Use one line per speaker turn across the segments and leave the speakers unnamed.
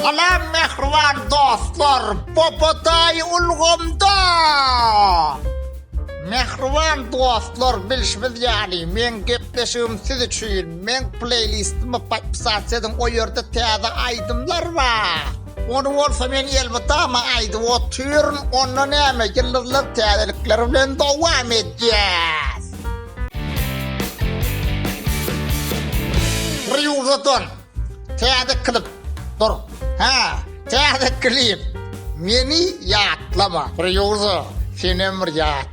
Salam mähriban dostlar, Popotaý ulgamda! Mähriban dostlar, bilşimiz ýaly, meň gepleşigim siz üçin, meň pleýlistimi podpisat ediň, o ýerde täze aýdymlar bar. Ony bolsa men elmydama aýdyp otyryn, onda näme ýyldyzlar täzelikler bilen dowam edýäs. Rýuza don täze klip dur hä täze klip meni ýatlama rýuza senem bir ýat.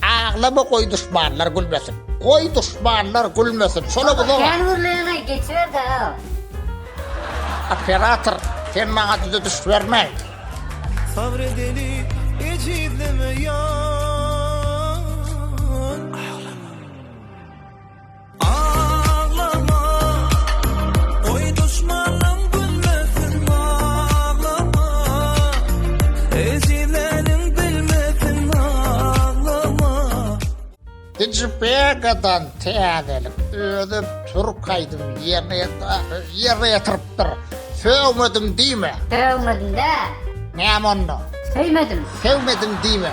Aglama goý duşmanlar gülmesin. Goý duşmanlar gülmesin şola bu zor. Kän gürleýäňeý geçiberdaý. Operator sen maňa düze düş bermäý. Sabr edeli ejizleme ýar. Digipegadan täzelik özi türk aýdym ýerine ýerine ýetiripdir. Sögmedim diýme. Sögmedim dä. Näme onda? Sögmedim. Sögmedim diýme.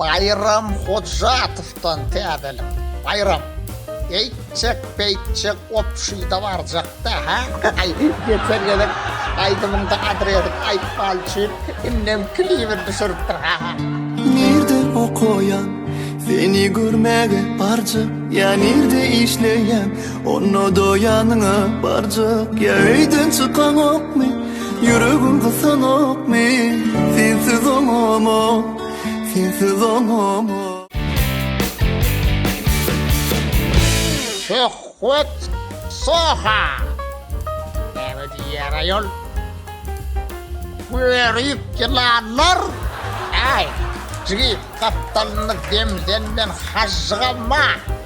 Baýram Hojatowdan täzelik baýram eýtjek beýtjek obşida barjakda hä aý geçen gezek aýdymyňda adresini aýtman üçin indem klibini düşüripdir hä hä. Nirde okaýaň seni görmäge barjak ýa nirde işleýäň. Onda da ýanyňa barjak ýa öýden çykaňokmy Ýüregim gysanokmy Sensiz oňama Sensiz oňama Söhbet Soha Näme diýýär aýol Göýerip ýylanlar Äý Jigit gapdalyny demden men hažžyga ma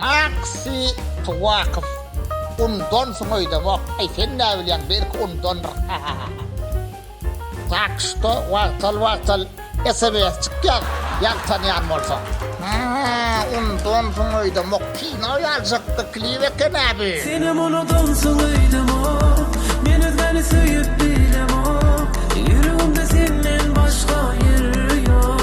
Maksy Tuwakow Undonsyň öýdemok, aý sen näbilýäň belki undondyr hahahaha. Tak şto wagtal wagtal SMSçik ýaz ýag tanýan bolsaň. Haaa undonsyň öýdemok kino ýazjakda klip ekena bu. Senem unudonsyň öýdemok Men özgäni söýüp bilemok Ýüregimde senden başga ýer ýok.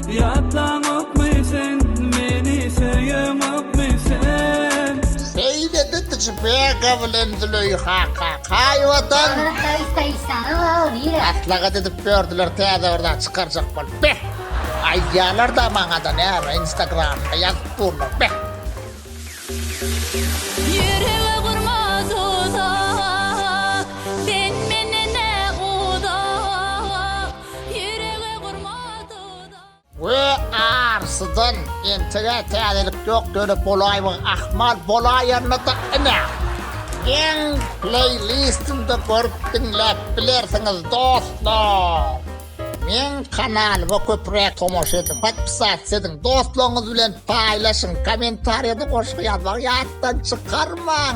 Ýatlaňokmy sen meni söýeňokmy sen. Seýledi Tjbega bilen Züleýha Kakaýewadan. Gara haýs haýsany waww diýer. Aslagat edip bördiler täze bir zat çykarjak bolup beh. Aýdýalarda maňada näme instagramda ýazyp durlar beh. Ýürege gurma duzak, sen menden-ä uzak, ýürege gurma. We arsydan entegä täzelik ýok dönüp bolaýmyň ahmal bolaýanynada ine meň pleýlistimde görüp diňläp bilersiňiz dostlar meň kanalyma köpräk tomaşa ediň podpisats ediň dostlaryňyz bilen paýlaşyň komentariýada goşgy ýazmagy ýatdan çykarmaň.